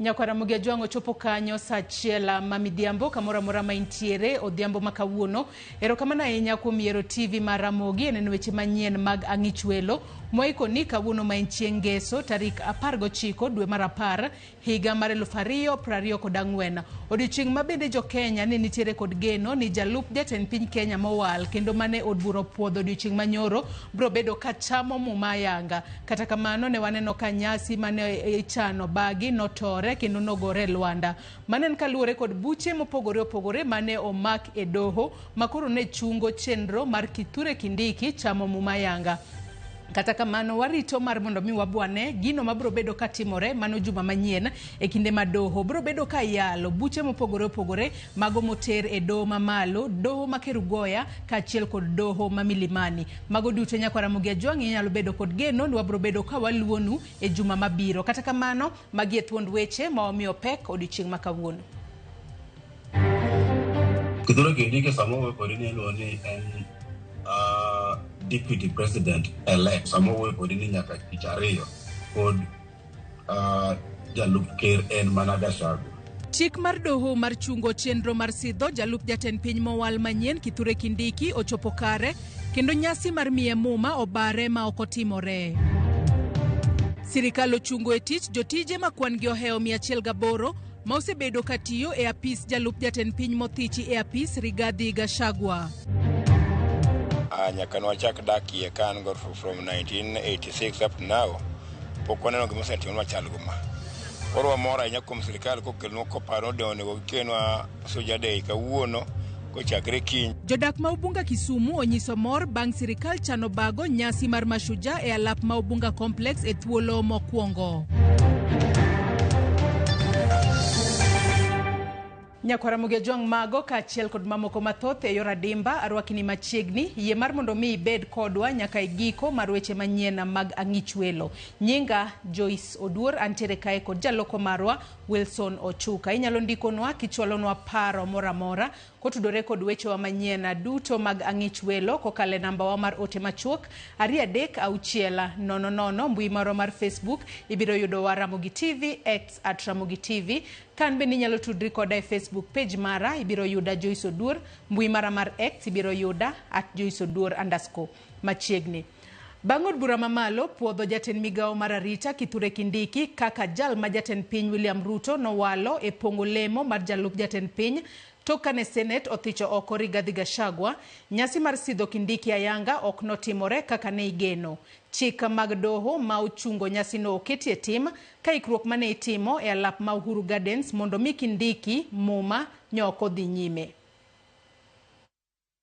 Nyako Ramogi Ajwang' ochopo kanyo sa achiel ah, ma midhiambo kamoro amora ma intiere odhiambo ma kawuono. Erokamano ahinya kuom yiero TV mar Ramogi e neno weche manyien mag Ang'ich Welo moikoni kawuono ma en chieng' Ngeso tarik 19 dwe mar apar higa mar 2024. Odiochieng' ma bende jo Kenya ne nitiere kod geno ni jalup jatend piny Kenya mowal kendo mane od bura opuodho odiochieng' manyoro biro bedo ka chamo muma ayanga. Kata kamano, ne waneno ka nyasi ma ne ichano bagi notore kendo nogore e lwanda. Mano en kaluwore kod buche mopogore opogore ma ne omak e doho ma koro ne chungo chenro mar Kithure Kindiki chamo Muma Yanga. Kata kamano, warito mar mondo mi wabwane gino mabiro bedo katimore mano juma manyien e kinde ma doho biro bedo ka yalo buche mopogore opogore mago moter e doho mamalo doho ma kerugoya kaachiel kod doho ma milimani mago duto nyakwara mugi ajwang'i nyalo bedo kod geno ni wabiro bedo ka waluonu e juma mabiro kata kamano magi e thuond weche ma wamiyo pek odiochieng' ma kawuono Kithure Kindiki sama owuoyo kodi ni iluwo ni en uh, deputy president elect sama owuoyo kodi ni nyaka tich ariyo pod jalup ker en mana Gachagua. Chik mar doho mar chungo chenro mar sidho jalup jatend piny mowal manyien Kithure Kindiki ochopo kare kendo nyasi mar miye muma obare ma ok otimore. Sirikal ochungo e tich jotije ma kwan-gi ohewo 108 ma osebedo ka tiyo e apis jalup jatend piny mothichi e apis Rigathi Gachagua. Ah, nyaka nwachak dakie ka an go from 1986 up to now Pok waneno gima osetimnwa chal guma. Koro wamor ahinya kuom sirkal kokelnwa koparo ni onego gikelnwa soja dei kawuono kochakre kiny. Jodak ma Ubunga Kisumu onyiso mor bang' sirikal chano bago nyasi mar Mashujaa e alap ma Ubunga Complex e thuolo mokwongo. Nyako Ramogi Ojwang' Mago kaachiel kod mamoko mathoth e yor adimba arwakini machiegni. Yie mar mondo mi ibed kodwa nyaka e giko mar weche manyien mag Ang'ich Welo. Nyinga Joyce Oduor antiere kae kod jaloko marwa Wilson Ochuka. Inyalo ndikonwa kichwalonwa paro moro amora kotudore kod wechewa manyien duto mag Ang'ich Welo kokalo e nambawa mar ote machuok ariyo adek auchiel nono nono. Mbui marwa mar Facebook ibiro yudowa Ramogi TV, X at Ramogi TV. Kan bende inyalo tudri koda e Facebook page mara, ibiro yuda Joyce Oduor, mbui mara mar X ibiro yuda at Joyce Oduor underscore. Machiegni. Bang' od bura mamalo puodho jatend migawo mar arita Kithure Kindiki kaka jal ma jatend piny William Ruto nowalo e pongo lemo mar jalup jatend piny tok kane Senate othicho oko Rigathi Gachagua, nyasi mar sidho Kindiki ayanga ok notimore kaka ne igeno. Chik mag doho ma ochungo nyasino oketi e tim Ka ikruok mane itimo e alap ma Uhuru Gardens mondo mi kindiki Muma nyo ok odhi nyime.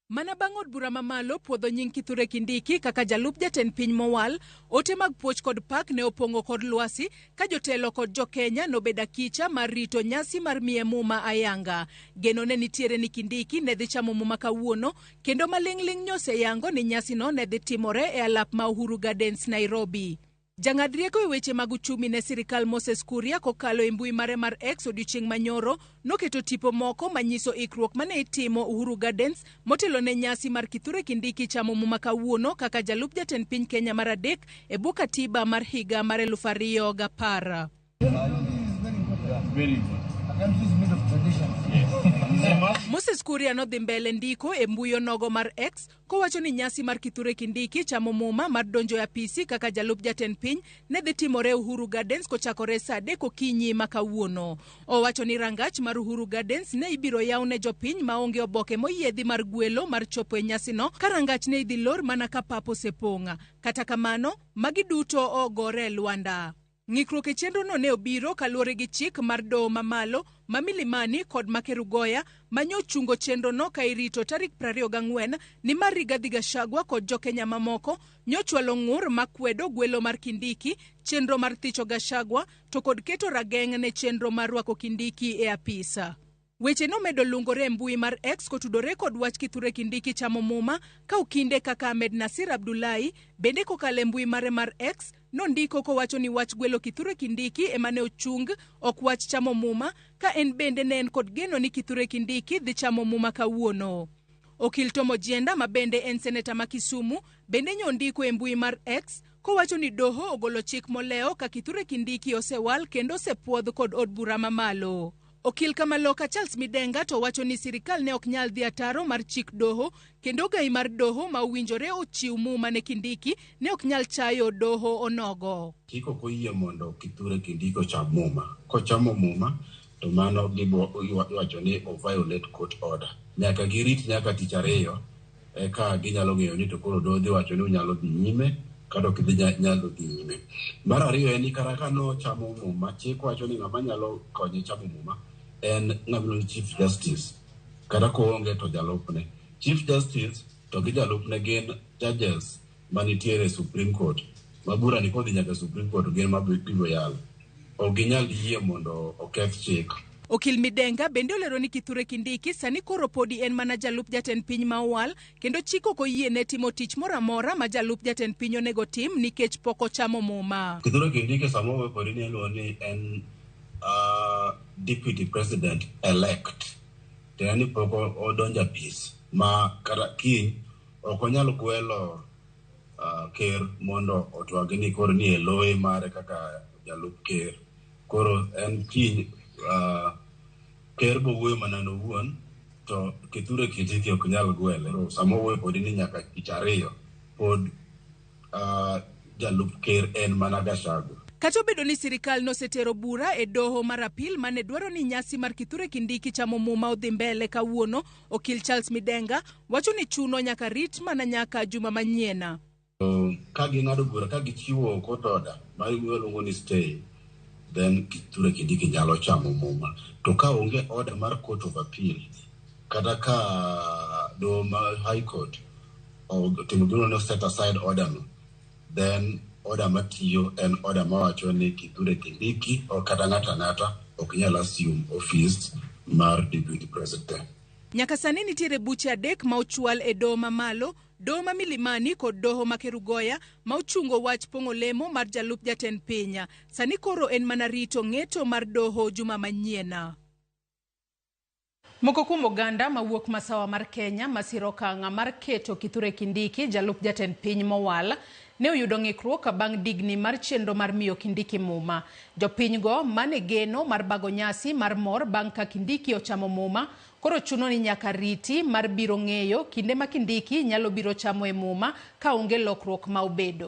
Mana bang' od bura ma malo puodho nying Kithure Kindiki kaka jalup jatend piny mowal, ote mag puoch kod pak ne opong'o kor lwasi ka jotelo kod jo Kenya nobed akicha mar rito nyasi mar miye Muma ayanga. Geno ne nitiere ni Kindiki ne dhi chamo Muma kawuono kendo maling'ling' nyoseyango ni nyasino ne dhi timore e alap ma Uhuru Gardens Nairobi. Jang'ad rieko e weche mag uchumi ne sirkal Moses Kuria kokalo e mbui mare mar X odiechieng' manyoro noketo tipo moko manyiso ikruok mane itimo Uhuru Gardens motelo ne nyasi mar Kithure Kindiki chamo muma kawuono kaka jalup jatend piny Kenya mar adek e bwo katiba mar higa mar eluf ariyo gapar. Moses Kuria nodhi mbele ndiko e mbui onogo mar X kowacho ni nyasi mar Kithure Kindiki chamo muma mar donjo e apisi kaka jalup jatend piny ne dhi timore Uhuru Gardens kochakore saa adek okinyi ma kawuono. Owacho ni rangach mar Uhuru Gardens ne ibiro yaw ne jopiny maonge oboke moyiedhi mar gwelo mar chopo e nyasino ka rangach ne idhi lor mana ka pap osepong'. Kata kamano, magi duto ogore e lwanda. Ng'ikruok e chenrono ne obiro kaluwore gi chik mar doho ma malo ma Milimani kod ma Kerugoya ma nyo chungo chenrono ka irito tarik 24 nimar Rigathi Gachagua kod jo Kenya mamoko nyo chwalo ng'ur ma kwedo gwelo mar Kindiki, chenro mar thicho Gachagua to kod keto rageng' ne chenro mar rwako Kindiki e apis. Weche nomedo lungore e mbui mar X kotudore kod wach Kithure Kindiki chamo Muma ka okinde kaka Ahmed Nasir Abdullahi bende kokalo e mbui mare mar X nondiko kowacho ni wach gwelo Kithure Kindiki ema ne ochung ok wach chamo Muma ka en bende ne en kod geno ni Kithure Kindiki dhi chamo Muma kawuono. Okil Tom Ojienda ma bende en seneta ma Kisumu bende nyo ondiko e mbui mar X kowacho ni doho ogolo chik molewo ka Kithure Kindiki osewal kendo osepwodh kod od bura mamalo. Okil Kamaloka Charles Midenga to wacho ni sirikal ne ok nyal dhi ataro mar chik doho kendo gai mar doho ma owinjore ochiw muma ne Kindiki ne ok nyal chayo doho onogo. Chik ok oyie mondo Kithure Kindiki ocham muma. Kochamo muma to mano gibo iwacho ni o violate court order. Nyaka girit nyaka tich ariyo eka ginyalo ng'eyo ni to koro dodhi wacho ni unyalo dhi nyime kata ok idhi nyalo dhi nyime. Mar ariyo en ni kata ka nochamo muma, chik wacho ni ng'ama nyalo konye chamo muma en ng'ama chief justice kata koonge to jalupne. Chief justice to gi jalupne gin judges manitiere e Supreme Court ma burani kodhi nyaka e Supreme Court gin ma biro yalo. Ok ginyal yie mondo oketh chik. Okil Midenga bende olero ni Kithure Kindiki sani koro podi en mana jalup jatend piny ma owal kendo chik ok oyiene timo tich moro amora ma jalup jatend piny onego otim nikech pok ochamo muma. Kithure Kindiki sama owuoyo kodi ni iluongo ni en ah, deputy president elect tiende ni pok o- odonjo apis ma kata kiny Ok onyal gwelo uh, ker mondo otwagi ni koro ni eloye mare kaka jalup ker. Koro en kiny uh, ker bowuoyo mana nowuon to kithure kitiki ok nyal gwele. Sama owuoyo podi ni nyaka tich ariyo pod uh, jalup ker en mana Gachagua. Kata obedo ni sirikal nosetero bura e doho mar apil mane dwaro ni nyasi mar Kithure Kindiki chamo muma odhi mbele kawuono, Okil Charles Midenga wacho ni chuno nyaka rit mana nyaka juma manyiena. Ka ging'ado bura ka gichiwo court order ma iluongo ni stay then Kithure Kindiki nyalo chamo muma. To ka onge order mar court of appeal kata ka doho ma high court otimo gimoro ni set aside order no then order matiyo en order mawacho ni Kithure Kindiki or kata ng'ato ang'ata ok nyal assume office mar deputy president. Nyaka sani nitiere buche adek ma ochwal e doho ma malo, doho ma Milimani kod doho ma Kerugoya ma ochungo wach pong'o lemo mar jalup jatend piny. Sani koro en mana rito ng'eto mar doho juma manyiena. Moko kuom oganda mawuok masawa mar Kenya masiro okang' mar keto Kithure Kindiki jalup jatend piny mowal ne oyudo ng'ikruok bang' digni mar chenro mar miyo Kindiki muma. Jopinygo mane geno mar bago nyasi mar mor bang' ka Kindiki ochamo muma koro chuno ni nyaka riti mar biro ng'eyo kinde ma Kindiki nyalo biro chamoe muma ka onge lokruok ma obedo.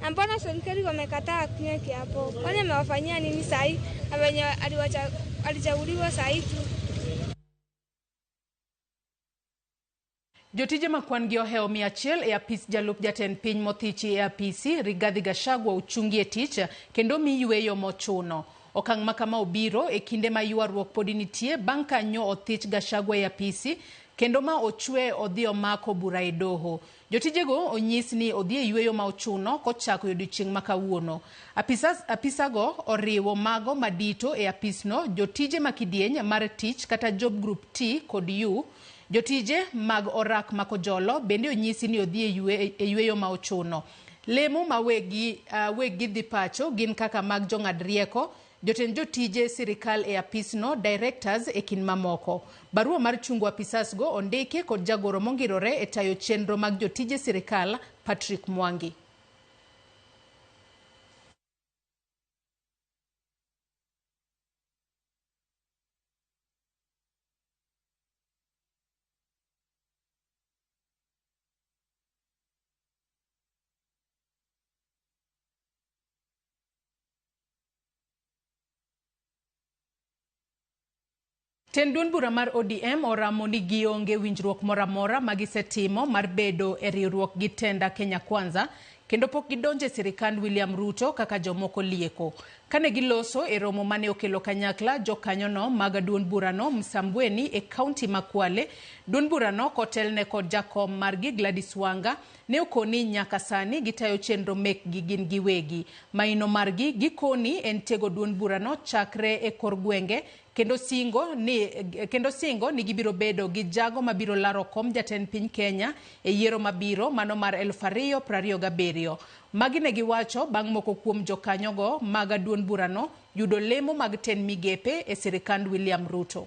Na mbona serikali wamekataa kunywa kiapo? Kwani amewafanyia nini sahi? Na venye aliwacha- alichaguliwa sahi tu. Jotije ma kwan-gi ohewo mia achiel e apis jalup jatend piny mothichi e apisi, Rigathi Gachagua ochungi e tich kendo omi yueyo mochuno. Okang' ma kama obiro e kinde ma ywaruok podi nitie bang' ka nyo othich Gachagua e apisi kendo ma ochwe odhi omako bura e doho. Jotijego onyis ni odhi e yueyo ma ochuno kochako e odiechieng' ma kawuono. Apisas, apisago oriwo mago ma dito e apisno, jotije ma kidieny mar tich kata Job Group T kod U. Jotije mag orak ma kojolo bende onyisi ni odhi e yue, e yueyo ma ochuno. Lemo ma weggi, uh, weggi dhi pacho gin kaka mag jong'ad rieko, Jotend jotije sirikal e apisno, directors e kind mamoko. Barua mar chungo apisas go ondiki kod jagoro mongirore e tayo chenro mag jotije sirikal Patrick Mwangi. Tend duond bura mar ODM oramo ni gionge winjruok moro amora ma gisetimo mar bedo e riwruok gi tenda Kenya Kwanza kendo pok gidonjo e sirikand William Ruto kaka jomoko lieko. Kane giloso e romo mane okelo kanyakla jokanyono mag duond burano Msambweni e kaunti ma Kwale, duond burano kotelne kod jakom margi Gladys Wanga Ne okoni nyaka sani gitayo chenro mekgi gin giwegi. Maino margi gikoni en tego duond burano chakre e kor gwenge kendo singo ni kendo singo ni gibiro bedo gi jago mabiro laro kom jatend piny Kenya e yiero mabiro mano mar eluf ariyo prariyo gabiriyo. Magi ne giwacho bang' moko kuom jokanyogo maga duond burano yudo lemo mag tend migepe e sirikand William Ruto.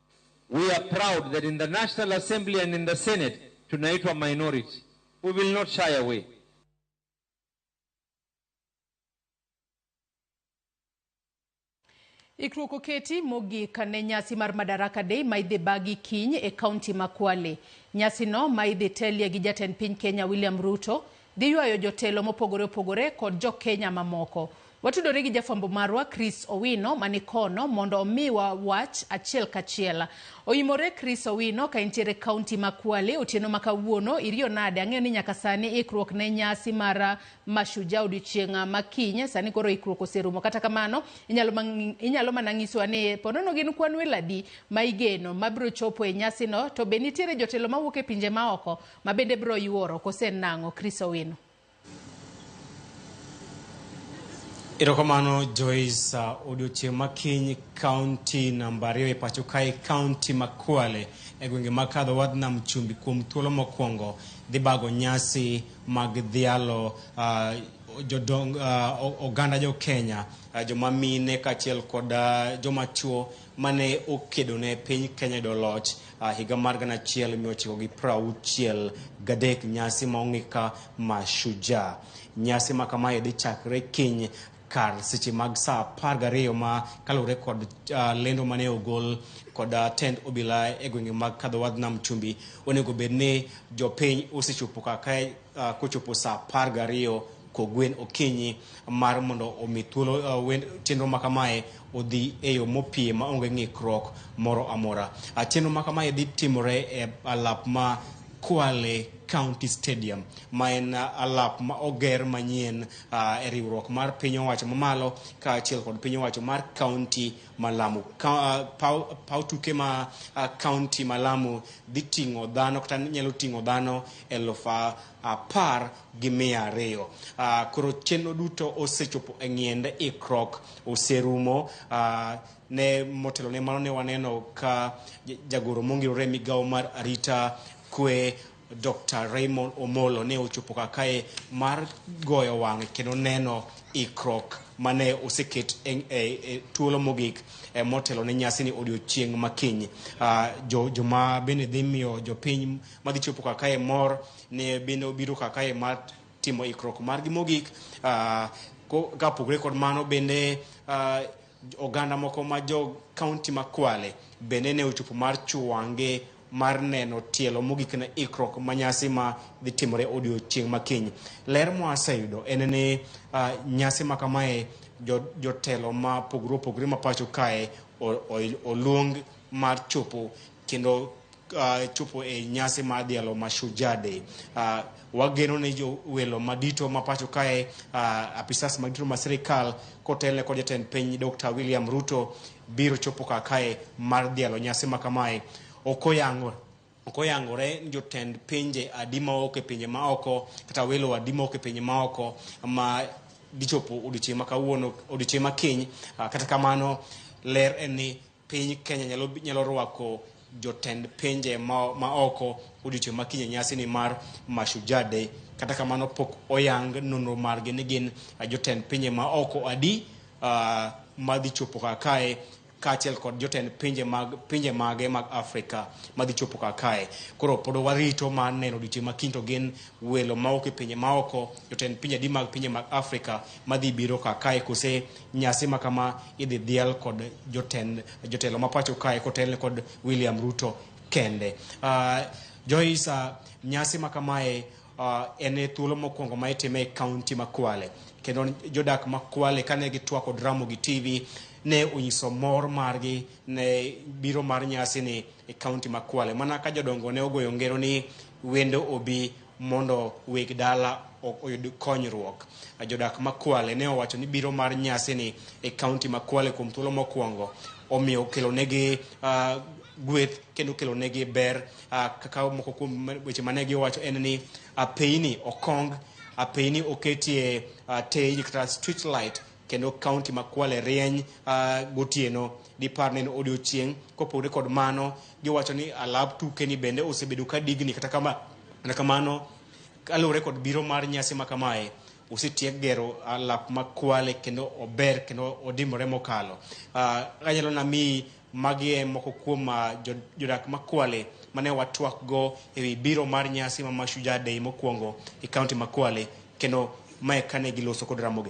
We are proud that in the National Assembly and in the Senate tunaitwa minority. We will not shy away. Ikruok oketi mogik ne nyasi mar Madaraka Day ma idhi bagi kiny e kaunti ma Kwale. Nyasino ma idhi telie gi jatend piny Kenya William Ruto Giywayo jotelo mopogore opogore kod jo Kenya mamoko. Watudore gi jafwambo marwa Chris Owino mani kono mondo omiwa wach achiel kachiel. Oyimore Chris Owino ka intiere kaunti ma Kwale otieno ma kawuono iriyo nade ang'eyo ni nyaka sani ikruok ne nyasi mar Mashujaa odiochieng' ma kiny sani koro ikruok oserumo kata kamano inyalo, inyalo mana ng'isowa ni ponono gin kwan welo adi ma igeno mabiro chopo e nyasino to be nitiere jotelo mawuok e pinje maoko Ma bende bro yuoro kose nang'o Chris Owino. Erokamano Joyce, uh, odiochieng' ma kiny kaunti namba ariyo e pacho kae kaunti ma Kwale e gwenge mag kadho wadh nam chumbi kuom thuolo mokwongo dhi bago nyasi mag dhialo uh, jodong uh, o- oganda jo Kenya uh, joma mine kaachiel kod uh, joma chuo mane okedo ne piny Kenya yudo loch A higa mar gana achiel mia ochiko gi prauchiel gadek nyasi ma ong'e ka Mashujaa. Nyasi ma kamae dhi chakre kiny kar seche mag saa apar gariyo ma kaluwore kod uh, lendo mane ogol kod uh, tend obila e gwenge mag kadhowadh nam chumbi onego bed ni jopiny osechopo kaka uh, kochopo saa apar gariyo kogwen okinyi mar mondo omi thuolo uh, wen- chenro ma kamae odhi e yo mopie ma onge ng'ikruok moro amora uh, chenro ma kamae dhi timore e alap ma Kwale County Stadium ma en uh, alap ma oger manyien uh, e riwruok mar piny owacho mamalo kaachiel kod piny owacho mar county ma Lamu. Ka, uh, paw, paw tuke ma uh, county ma Lamu dhi ting'o dhano kata nyalo ting'o dhano eluf uh, apar gi mia ariyo. Uh, koro chenro duto osechopo e ng'iende ikruok oserumo uh, ne motelo ne mano ne waneno ka ja- jagoro mongirore e migawo mar arita kwe Dr. Raymond Omolo ne ochopo ka kae mar goyo wang'e kendo neno ikruok mane oseket e, e, e thuolo mogik e, motelo ne nyasi ni odiochieng' makiny. Ah, jo, joma bende dhi miyo jopiny madhi chopo ka kae mor ne bende obiro ka kae mar timo ikruok margi mogik. Ah, ko- kapogore kod mano bende ah, Oganda moko ma jo kaunti ma Kwale bende ne ochopo mar chuange mar neno tielo mogik na ikruok ma nyasi ma dhi timore odiochieng' ma kiny. Ler mwaseyudo en ni uh, nyasi ma kamae jotelo jo ma pogre opogre ma pacho kae oluong mar chopo kendo uh, chopo e nyasi mar dhialo Mashujaa Day. Uh, wageno ni jowelo madito ma pacho kae uh, apisas madito ma sirikal kotelne kod jatend piny Dr. William Ruto biro chopo kar kae mar dhialo nyasi ma kamae. Ok oyango ok oyangore ni jotend pinje adi ma oko e pinje ma oko kata welo adi ma oko e pinje ma oko ma dichopo odiochieng' ma kawuono odiochieng' ma kiny. Uh, kata kamano ler en ni Piny Kenya nyalo, nyalo rwako jotend pinje ma, ma oko odiochieng' ma kinyne nyasi ni mar Mashujaa Day. Kata kamano pok oyang nonro margi ni gin ah, jotend pinje ma oko adi ah, madhi chopo kar kae kaachiel kod jotend pinje mag pinje mage mag Afrika madhi chopo kar kae. Koro pod warito mar neno odiochieng' ma kiny to gin welo mawuok e pinje maoko, jotend pinje adi mag pinje mag Afrika madhi biro ka kae kose nyasi ma kama idhi dhial kod jotend jotelo ma pacho kae kotelne kod William Ruto kende. Uh, Joyce, uh, nyasi ma kamae uh, en e thuolo mokwongo ma itime e kaunti ma Kwale kendo jodak ma Kwale kane gitwako dramo gi TV ne onyiso mor margi ne biro mar nyasi ni e kaunti ma Kwale mana ka jodongo ne ogoyo ngero ni wendo obi mondo weg dala oyud konyruok. Jodak ma Kwale ne owacho ni biro mar nyasini e kaunti ma Kwale kuom thuolo mokwongo omiyo okelonegi uh, gweth kendo okelonegi ber uh, kaka moko kuom weche mane giwacho en ni apeini okong apeini oketie uh, tej kata street light kendo kaunti ma Kwale rieny ah, gotieno dipar ni en odiochieng' kopogore kod mano giwacho ni alap tuke ni bende osebedo ka digni kata kama kata kamano kaluwore kod biro mar nyasi ma kamae osetiek gero alap ma Kwale kendo ober kendo odimore mokalo Ah, anyalo nami magi e moko kuom ah, jo- jodak ma Kwale mane watwak go ewi biro mar nyasi ma Mashujaa Day mokwongo e kaunti ma Kwale kendo mae kane giloso kod Ramogi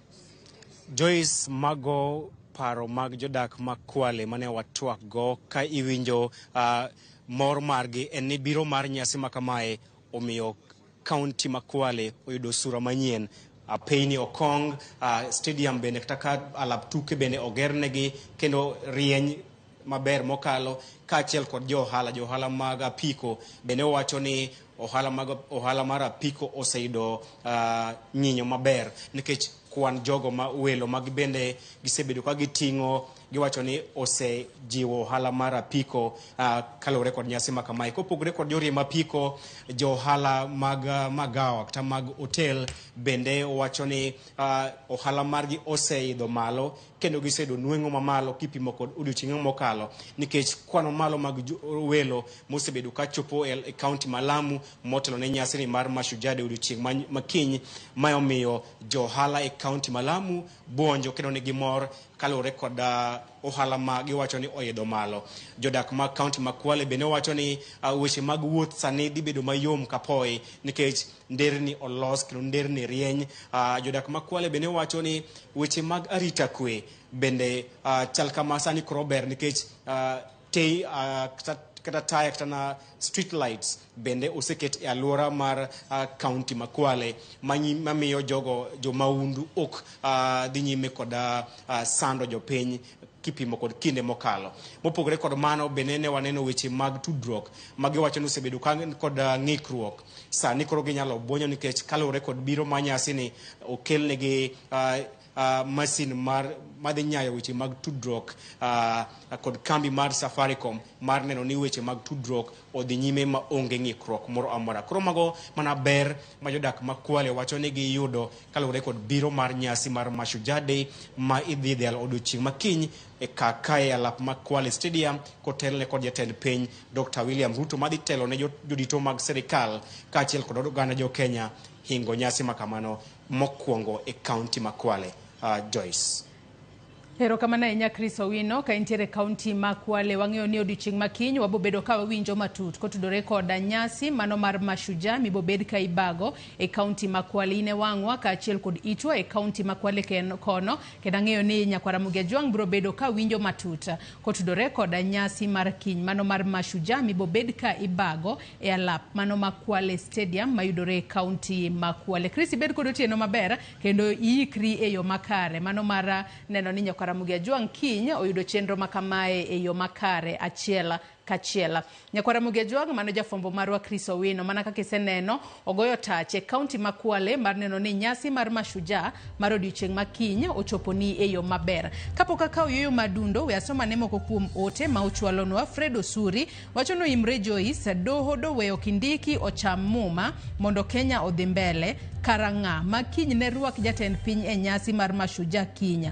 Joyce mago paro mag jodak ma Kwale mane watwak go ka iwinjo uh, mor margi en ni biro mar nyasi ma kamae omiyo kaunti ma Kwale oyudo sura manyien uh, Payne Okong uh, stadium bende kata ka alap tuke bende ogernegi kendo rieny maber mokalo kaachiel kod jo ohala jo ohala mag apiko bende owacho ni ohala mag ohala mar apiko oseyudo uh, nyinyo maber nikech kwan jogo ma welo mag bende gisebedo ka giting'o giwacho ni osejiwo ohala mar apiko uh, kaluwore kod nyasi ma kamae kopogore kod joriemb apiko jo ohala mag uh, magawa kata mag hotel bende wacho ni uh, ohala margi oseidho malo kendo gisedo nweng'o mamalo kipimo kod odiochieng'e mokalo nikech kwano malo mag welo mosebedo ka chopo e, e kaunti ma Lamu motelo ne nyasini mar Mashujade odiochieng' makiny ma omiyo johala e kaunti ma Lamu buonjo kendo nigi mor kaluwore kod uh, ohala ma giwacho ni oidho malo. Jodak mag kaunti ma Kwale bende wacho ni uh, weche mag wuoth sani dhi bedo mayom kapoyi nikech nderni olos kendo nderni rieny. Uh, jodak ma Kwale bende wacho ni weche mag arita kwe bende uh, chal kama sani koro ber nikech uh, te, uh, kata, kata taya kata na street lights bende oseket e alwora mar uh, county ma Kwale manyi- mamiyo jogo jomaundu ok uh, dhi nyime kod uh, uh, sando jopiny kipimo kod kinde mokalo mopogore kod mano bende ne waneno weche mag tudruok ma giwacho ni osebedo ka kod uh, ng'ikruok Sani koro ginyalo bwonyo nikech kaluwore kod biro ma nyasini okelnegi ah, ah, masin mar madhi nyayo weche mag tudruok ah, kod kambi mar Safaricom mar neno ni weche mag tudruok odhi nyime ma onge ng'ikruok moro amora. Koro mago mana ber ma jodak ma Kwale wacho ni giyudo kaluwore kod biro mar nyasi mar Mashujaa Day ma idhi dhial odiochieng' ma kiny e kaka e alap ma Kwale Stadium kotelne kod jatend piny Dr. William Ruto madhi telo ne jodito mag sirikal kaachiel kod oganda jo Kenya hingo nyasi ma kamano mokwongo e kaunti ma Kwale. Uh, Joyce. Erokamano ahinya Chris Owino ka intiere kaunti ma Kwale. Wang'eyo ni odiochieng' ma kiny wabobedo ka wawinjo matut kotudore koda nyasi mano mar Mashujaa mibobed ka ibago e kaunti ma Kwale. In e wang'wa kaachiel kod itwa e kaunti ma Kwale kono kendo ang'eyo ni nyakwara Mugia Jwang' biro bedo ka winjo matut. Kotudore koda nyasi mar kiny mano mar Mashujaa mibobed ka ibago e alap mano ma Kwale Stadium mayudore e kaunti ma Kwale. Chris ibed kod otieno maber kendo iikri e yo makare mano mar neno ni Nyakaramogi Ajwang' kiny oyudo chenro makamae e yo makare achiel kachiel. Nyakwar Ramogi Ajwang' mano jafwambo marwa Chris Owino mana kaka iseneno ogoyo tach e kaunti ma Kwale mar neno ni nyasi mar Mashujaa mar odiochieng' ma kiny ochoponi e yo maber. Kapok akawo yueyo ma adundo, we asom ane moko kuom ote ma ochwalonwa. Fred Osuri wacho ni oimre Joyce, doho dowe ok indiki ocham muma mondo Kenya odhi mbele. Karang'a ma kiny ne rwak jatend piny e nyasi mar Mashujaa kiny.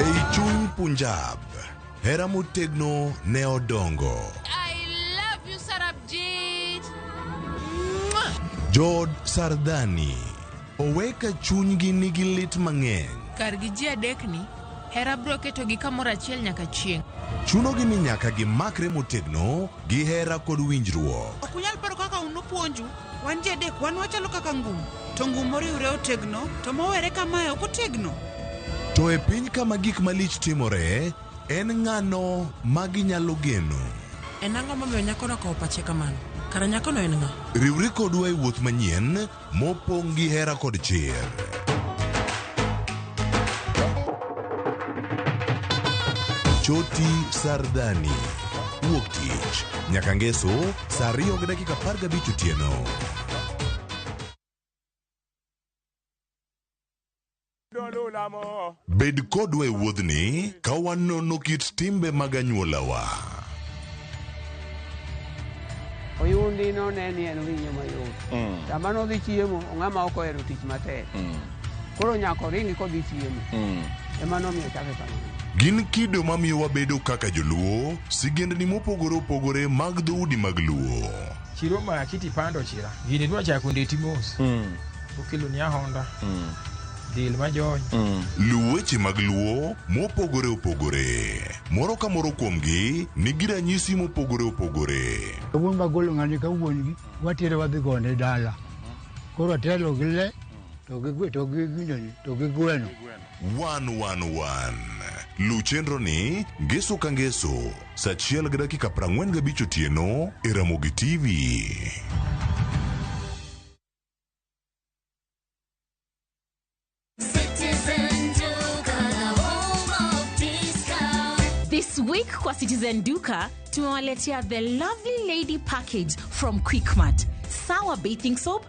Ei chuny Punjab, hera motegno ne odongo. I love you, Sarabjit. Jood Sardhani oweka chunygi nigi lit mang'eny. Kar gi ji adekni, hera bro ketogi kamoro achiel nyaka chieng'. Chunogi ni nyaka gimakre motegno gi hera kod winjruok. Ok unyal paro kaka unupuonju. Wan ji adek wan wachalo kaka ngum, to ngum moriwre otegno, to mowere kamae ok otegno. To e piny kama gik malich timore, en ng'ano ma ginyalo geno? En ang'o momiyo nyakono okawo pache kamano? Kara nyakono en ng'a? Riwri kodwa e wuoth manyien mopong' gi hera kod chir. Choti Sardani, Wuok Tich, nyaka Ngeso Saa ariyo gi dakika apar gabich otieno. Bed kodwa e wuodhni ka wanono kit timbe mag anyuolawa. Oyundi none ni en winyo mayot. Sama nodhi chiemo, ng'ama ok ohero tich matek. Koro nyako ringi kodhi chiemo. Mm. Ema nomiyo chake kamano. Gin kido mamiyo wabedo kaka joluo, sigendni mopogore opogore mag dhoudi mag luo. Chiro ma kiti pando chira. Gini dwa chako ndeti mos. Mm. Okelo ni ahonda. Mm. Dil ma jony. Mm. Luw weche mag luo mopogore opogore. Moro ka moro kuomgi nigi ranyisi mopogore opogore. Wuon magolo ng'ani ka wuon gi, watere wadhi gone dala. Koro atelo gi le. to gi gwe to gi gino ni to gi gweno 111 luw chenroni ngeso ka ngeso sa achiel gi dakika 45 otieno e ramogi tv This week kwa Citizen Duka tumewaletea the lovely lady package from Quickmart. Sawa bathing soap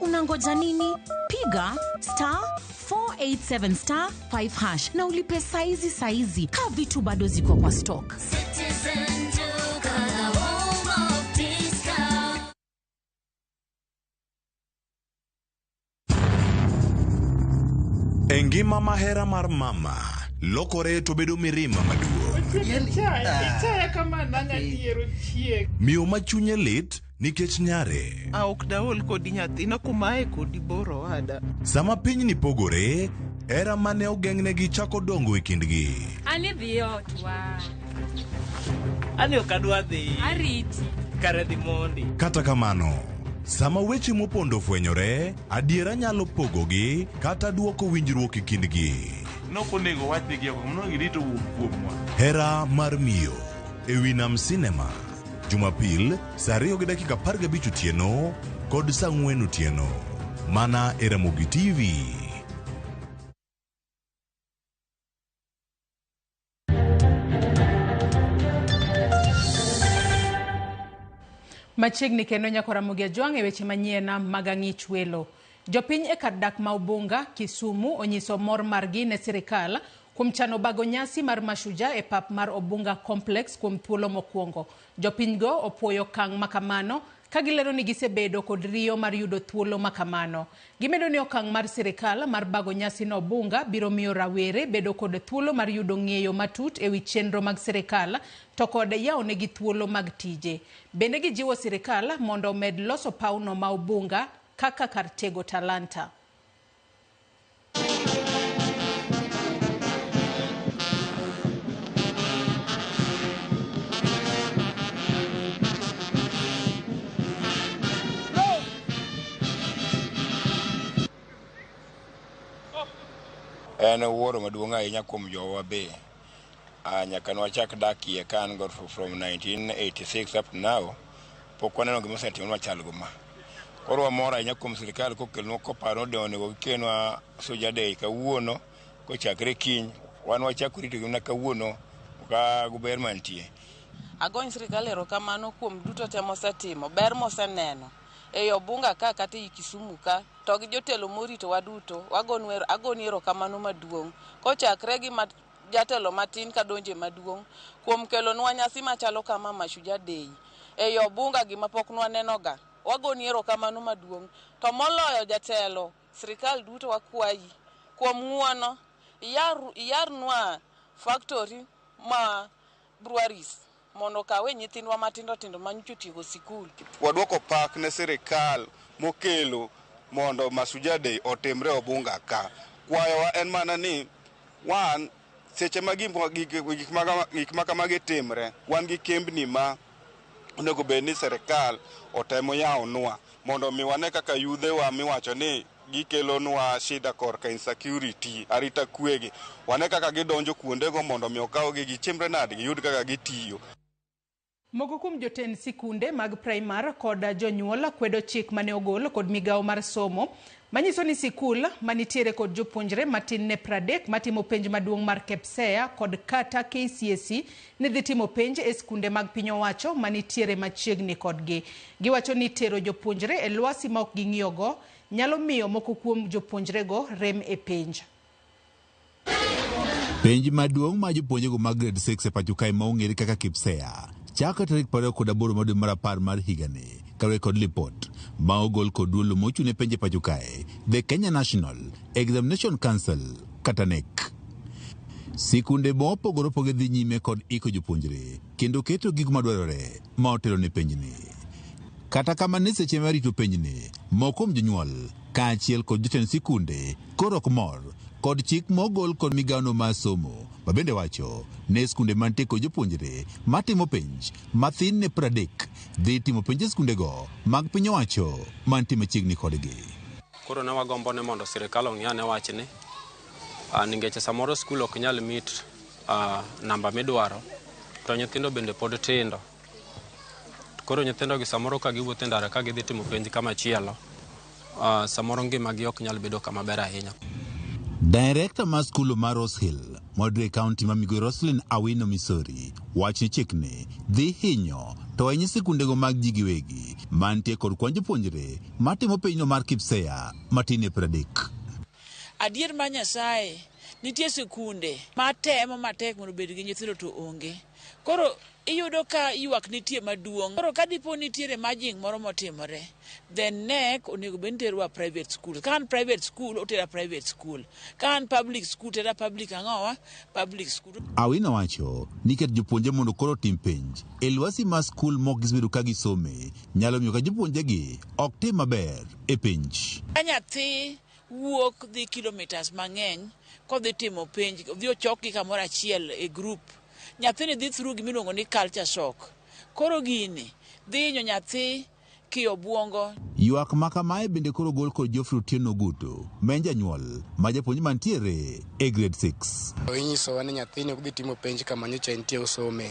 Unangoja nini? Piga star 487 star 5 hash na ulipe saizi saizi, kaa vitu bado ziko kwa stock. E ngima mahera mar mama lokore to bedo mirima maduong'. Ichaya kama nang'a dier ochiek. Miyo ma chunye lit nikech nyare. A ok daol kodi nyathina kumaye kodi bor owada. Sama pinyni pogore, hera ma ne ogeng'negi chako dongo e kindgi. An idhi e otwa. An ok adwa dhi. Ariti. Kare dhi mondi. Kata kamano, sama weche mopondo ofwenyore, adiera nyalo pogogi kata dwoko winjruok e kindgi. Nok onego wachnegi oko, mondo girito wuok kuomwa. Hera mar miyo e wi nam sinema. Jumapil saa ariyo gi dakika apar gabich otieno kod saa ang'wen otieno mana e Ramogi TV. Machiegni kendo nyako Ramogi Ajwang' e weche manyien mag ang'ich welo. Jopiny e kar dak ma Ubunga, Kisumu onyiso mor margi ne sirikal kuom chano bago nyasi mar Mashujaa e pap mar Obunga Complex kuom thuolo mokuongo. Jopinygo opuoyo okang' makamano ka gilero ni gisebedo kod riyo mar yudo thuolo makamano. Gimedo ni okang' mar sirikal mar bago nyasi no Obunga biro miyo rawere bedo kod thuolo mar yudo ng'eyo matut ewi chenro mag sirikal to kod yawonegi thuolo mag tije. Bende gijiwo sirikal mondo omed loso pawno ma Obunga kaka kar tego talanta. En wuoro maduong' ahinya kuom jowa be. Ah, nyaka nwachak dak iye ka an go fro- from 1986 up to now pok waneno gima osetimo machal go ma koro wamor ahinya kuom sirikal kokelnwa koparo ode onego gikelnwa soja day kawuono kochakre kiny wan wachako rito gimna kawuono ka guber mantie Agony sirkal erokamano kuom duto te mosetimo, ber moseneno. ei Obunga ka kata ei Kisumu ka to gi jotelo moritowa duto wagonu ero, agoni erokamano maduong' kochakre gi ma, jatelo matin kadonje maduong' kuom kelonwa nyasi machalo kama Mashujaa Day ei Obunga gima pok nwanenoga. Wagoni erokamano maduong' to moloyo jatelo sirkal duto wakwayi kuom ng'uono iyar, iyarnwa factory ma Breweries mondo okawe nyithindwa matindo tindo ma nyocha otiego sikul. Waduoko pak ne sirikal mokelo mondo Masuja Day otimre Obunga ka. Kwayowa en mana ni wan seche ma gik ma kamagi timre, wan gi kembni ma onego bed ni sirikal otemo yawonwa mondo omi wane kaka yudhewa miwacho ni, gikelonwa shida korka insecurity, arita kwe gi. Wane kaka gidonjo kuondego mondo omi okawgi, gichimre nade, giyud kaka gitiyo. Moko kuom jotend sikunde mag praimar kod jonyuol kwedo chik mane ogol kod migawo mar somo manyiso ni sikul manitiere kod jopuonjre matin ne pradek matimo penj maduong' mar KPSEA kod kata KCSE ni dhi timo penj e sikunde mag piny owacho manitiere machiegni kodgi. Giwacho ni tero jopuonjre e lwasi ma ok ging'iyogo nyalo miyo moko kuom jopuonjrego rem e penj. Penj maduong' ma jopuonjrego mag grade 6 e pacho kae ma ong'ere kaka KPSEA chakre tarik 28 mar dwe mar apar mar higani kaluwore kod lipot ma ogol kod duol mochung' ne penj e pacho kae The Kenya National Examination Council kata NEC. Sikunde mopogore opogore dhi nyime kod iko jopuonjre kendo keto gigo madwarore ma otelo ne penjni. Kata kamano, e seche ma rito penjni, moko kuom jonyuol kaachiel kod jotend sikunde koro ok mor kod chik mogol kod migawono mar somo ma bende wacho ne skunde mantie kod jopuonjre matimo penj mathin ne pradek dhi timo penj e skundego mag piny owacho mantie machiegni kodgi. Koro ne wagombo ni mondo sirkal ong'iane wachni ah, nikech samoro skul ok nyal mit namba midwaro to nyithindo bende pod tindo. Koro nyithindogi samoro ka giwuotho e ndara ka gidhi timo penj kamachielo, samoro ngimagi ok nyal bedo kama ber ahinya. Director mar skul ma Rose Hill, Modre County ma Migowi Roselyn Awino Misori wacho ni chikni dhi hinyo to ahinya sikundego mag ji giwegi mantie kod kwan jopuonjre matimo penjno mar KPSEA matin e pradek. Adier mar Nyasaye, nitie sikunde ma temo matek mondo obed gi nyithindo to onge. Koro iyudo ka ywak nitie maduong'. Koro ka dipo ni nitiere merging moro motimore, then Knec onego bed ni terowa private schools. Ka an private school, otera private school. Ka an public school, tera public ang'owa? public school. Awino wacho ni ket jopuonje mondo koro otim penj e lwasi ma skul mok gisebedo ka gisome nyalo miyo ka jopuonjegi ok tim maber e penj. Ka nyathi wuok dhi kilomitas mang'eny kodhi timo penj, odhi ochokgi kamoro achiel e grup, nyathini dhi through gimiluongo ni culture shock. Koro gini dhi hinyo nyathi. ki obwongo. Ywak ma kamae bende koro ogol kod Geoffrey Otieno Ogutu ma en janyuol ma japuonj mantiere e Grade Six. Inyisowa ni nyathini ok dhi timo penj kama nyocha entie osome.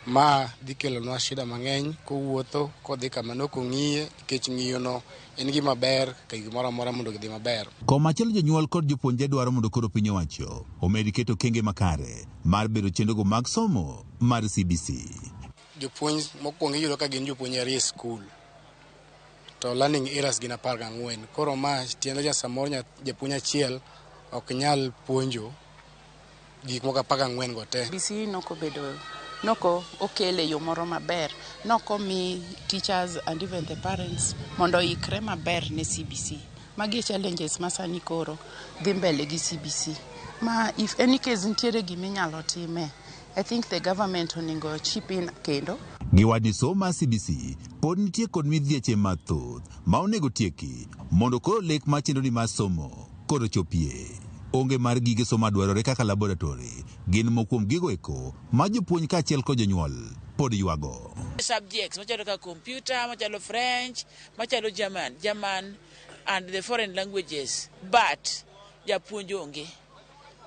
Ma dhi kelonwa shida mang'eny kowuotho kodhi kama nok ong'iye nikech ng'iyono en gima ber kaka gimoro amora mondo gidhi maber. Komachielo jonyuol kod jopuonjre dwaro mondo koro piny owacho omed keto okenge makare mar bero chenrogo mag somo mar CBC. Jopuonj mokwongo iyudo ka gin jopuonj arie skul to learning eras gin apar gang'wen. Koro ma tiende ni samoro japuonj achiel ok nyal puonjo gik moko apar gang'wen go te. BC e noko bedo noko okele yo moro maber, noko mi teachers and even the parents mondo ikre maber ne CBC. Magi e challenges ma sani koro dhi mbele gi CBC. Ma if any case nitiere giminyalo time. I think the government oningo chip in kendo. Giwacho ni somo mar CBC pod nitie kod midhieche mathoth ma onego tieki mondo koro lek mar chenroni mar somo koro chopie. Onge mar gige somo madwarore kaka laboratory gin moko kuom gigo eko ma jopuonj kaachiel kod jonyuol pod ywago. Subjects machalo kaka computer, machalo French, machalo German, German and the foreign languages but japuonj onge.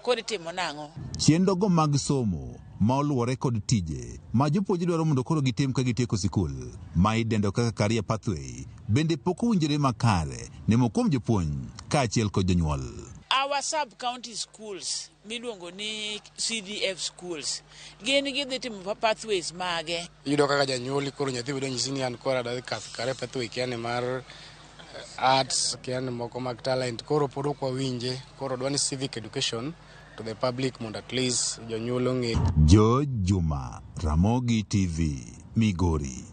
kod timo nang'o. Chiendo go mag somo ma oluwore kod tije ma jopuonj dwaro mondo koro gitim ka gitieko sikul ma idendo kaka career pathway bende pok owinjore makare nemo kuom jopuonj kaachiel kod jonyuol. Our sub county schools miluongo ni CDF schools gin gidhi timo pathways mage? Iyudo kaka janyuol koro nyathi bedo nyisi ni an koro adadhi kath kare pathway kia ni mar arts kian moko mag talent koro pod ok wawinje koro dwani civic education to the public mondo at least jonyuol ong'e George Juma, Ramogi TV, Migori.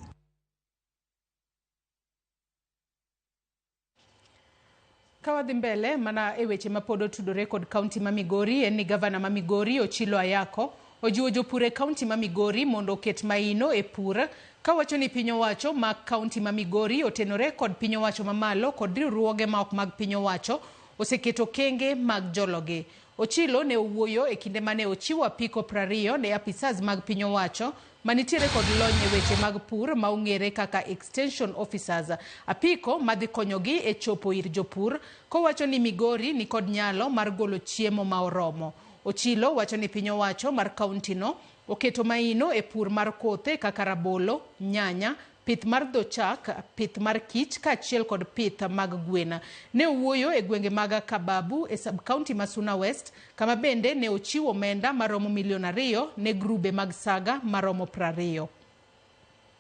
Ka wadhi mbele mana e weche ma pod otudore kod kaunti ma Migori en ni gavana ma Migori Ochilo Ayako Ojiwo jopur e kaunti ma Migori mondo oket maino e pur, kawacho ni piny owacho ma kaunti ma Migori otenore kod piny owacho mamalo kod riwruoge ma ok mag piny owacho oseketo okenge mag jologi. Ochilo ne owuoyo e kinde mane ochiwo apiko prariyo ne apisas mag piny owacho manitiere kod lony e weche mag pur ma ong'ere kaka Extension Officers, apiko madhi konyogi e chopo ir jopur, kowacho ni Migori nikod nyalo mar golo chiemo ma oromo. Ochilo wacho ni piny owacho mar kaunti no oketo maino e pur mar kothe kaka rabolo, nyanya, pith mar dho chak, pith mar kich kaachiel kod pith mag gwen. Ne owuoyo e gwenge mag Kababu e sub-kaunti ma Suna West kama bende ne ochiwo omenda maromo milion ariyo ne grube mag saga maromo prariyo.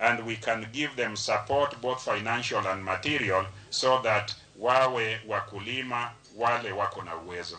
and we can give them support both financial and material so that wawe wakulima wale wako na uwezo.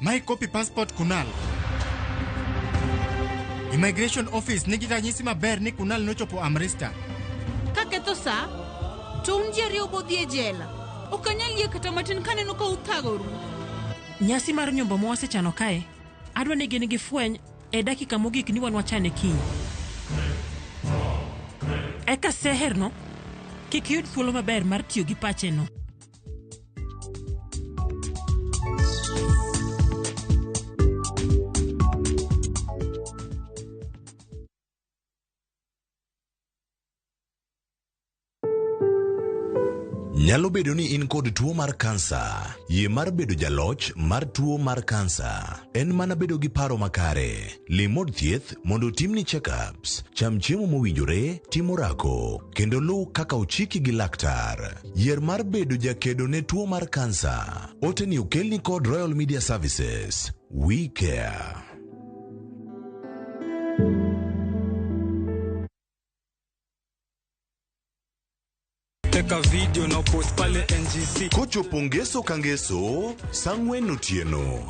My copy passport Kunal. Immigration office nigi ranyisi maber ni Kunal nochopo Amrista. Kaketho sa, to un ji ariyo bodhi e jela. Ok anyal yie kata matin kaneno ka uthagoru. Nyasi mar nyombo ma wasechano kae, adwa ni gin gi fweny e dakika mogik ni wan wachane kiny. Eka seherno kik yud thuolo maber mar tiyo gi pacheno. Nyalo bedo ni in kod tuo mar kansa. Yie mar bedo jaloch mar tuo mar kansa en mana bedo gi paro makare. Lim od thieth mondo otimni checkups, cham chiemo mowinjore, tim orako, kendo luw kaka ochiki gi laktar. Yier mar bedo jakedo ne tuo mar kansa. Oteni okelni kod Royal Media Services. We care. teka video na post pale ngc Kochopo ngeso ka ngeso, sang'wen otieno.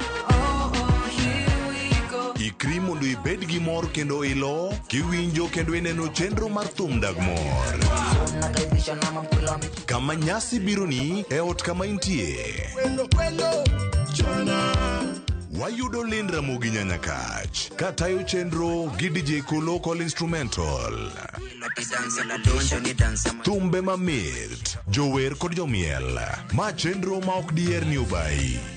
Ikri mondo ibed gi mor kendo ilo, kiwinjo kendo ineno chenro mar thum dag mor. Kama nyasi bironi e ot kama intie. Wayudo Lynn Ramogi Nyanyakach ka tayo chenro gi DJ Kolo kod instrumental. Thumbe mamit, jower kod jomiel. Ma chenro ma ok diher ni obayi.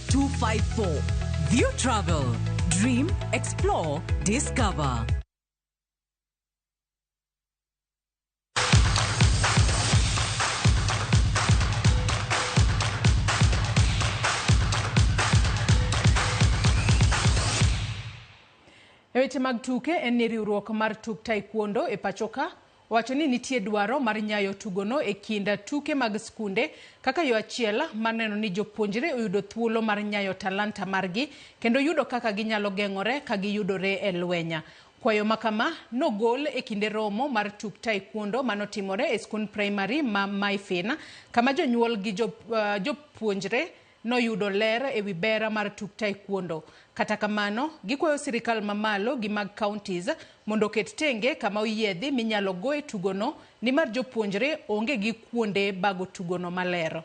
254. View Travel. Dream, explore, discover. E weche mag tuke en ni riwruok mar tuk taekwondo e pachoka owacho ni nitie dwaro mar nyayo tugono e kind tuke mag skunde kaka yo achiel mar neno ni jopuonjre oyudo thuolo mar nyayo talanta margi kendo yudo kaka ginyalo geng'ore ka giyudore e lwenya. Kwayo ma kama nogol e kinde romo mar tuk taekwondo ma notimore e skund praimari ma Maifin kama jonyuol gi jopuonjre noyudo ler e wi ber mar tuk taekwondo. Kata kamano, gikwayo sirkal ma malo gi mag counties mondo oket tenge kama oyiedhi minyalo goe tugono nimar jopuonjre onge gi kuonde bago tugono maler.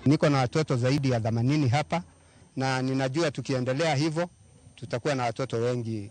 Niko na watoto zaidi ya themanini hapa na ninajua tukiendelea hivyo tutakuwa na watoto wengi.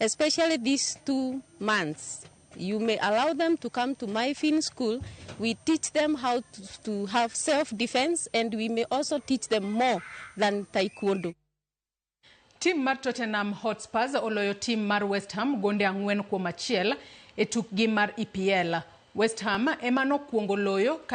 Especially these two months. You may allow them to come to my film school. We teach them how to, to have self defense, and we may also teach them more than taekwondo. Tim mar Tottenham Hotspurs oloyo tim mar West Ham gonde ang'wen kuom achiel e tukgi mar EPL. West Ham ema nokwongo loyo kae